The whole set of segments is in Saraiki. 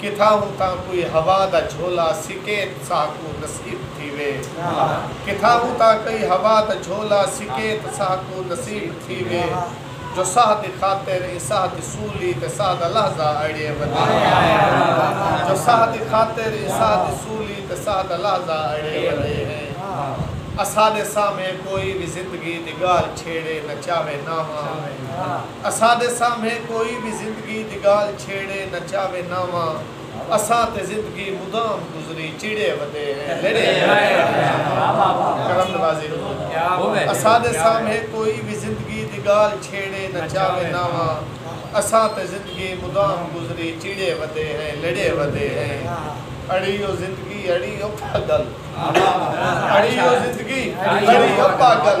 کتھاہوں تاں کوئی ہوا دا جھولا سکیت ساہکوں نصیب تھیوے کتھاہوں تاں کئی ہوا دا جھولا سکیت ساہکوں نصیب تھیوے جو ساہ دی خاطر ایں ساہ دی سولی تے ساہ دا لحظہ اڑیے ونجے جو ساہ دی خاطر ایں ساہ دی سولی تے ساہ دا لحظہ اڑیے ونجے ہیں اساڈے سامھے کوئی وی زندگی دی گالھ چھیڑے نہ چاوے ناواں اساݙے سامھے کوئی وی زندگی دی ڳالھ چھیڑے نہ چاوے ناواں اساں تے زندگی مدام گزری چڑھے ودے ہیں لڑھے کرم نوازی حضور اساݙے سامھے کوئی وی زندگی دی ڳالھ چھیڑے نہ چاوے ناواں اساں تے زندگی مدام گزری چڑھے ودے ہیں لڑھے ودے ہیں اڑی او زندگی اڑی او پاڳل اڑی او زندگی اڑی او پاڳل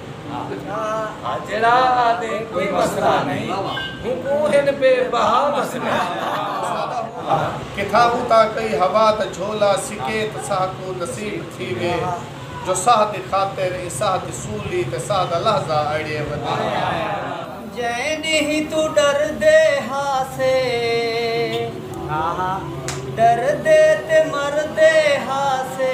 جیڑھا آدھے کوئی مسئلہ نہیں ہوں ہن بے بہا مسئلہ کتھا ہوں تا کئی ہوا دا جھولا سکیت ساہ کو نصیب تھی وے جو ساہ دی خاطر اے ساہ دی سولی تے ساہ دا لحظہ اڑیے ودے جے نہیں تو ڈر دے ہاسے ڈر دے تے مر دے ہاسے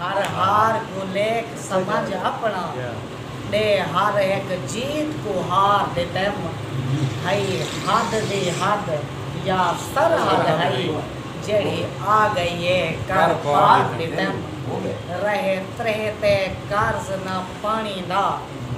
ہر ہار کوں لیکھ سمجھ اپݨا ݙے ہر ہک جیت کوں ہار دے ٹیم ہئی حد دی حد یا سرحد ہئی جیڑھی آ ڳئی اے کر پار دے ٹیم رہے تریہہ تے قرض نہ پاݨی دا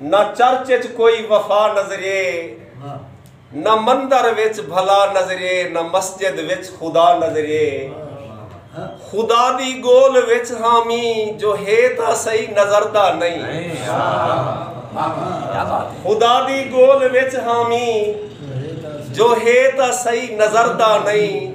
نہ چرچ اچ کوئی وفا نظرے نہ مندر وچ بھلا نظرے نہ مسجد وچ خدا نظرے خدا دی گول وچ ہاں می جو ہے تاں سئی نظر دا نئیں خدا دی گول وچ ہاں می جو ہے تاں سئی نظر دا نئیں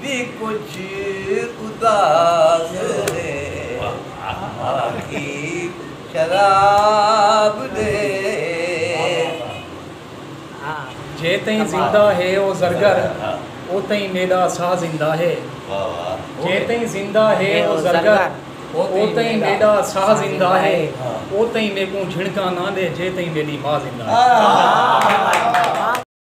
وی کجھ اداس ہے آکھی شراب دے۔ جے تئیں زندہ ہے او زرگر او تئیں میݙا ساہ زندہ ہے جے تئیں زندہ ہے او زرگر او تئیں میݙا ساہ زندہ ہے او تئیں میکوں جھنڑکاں نہ ݙے جے تئیں میݙی ماء زندہ ہے۔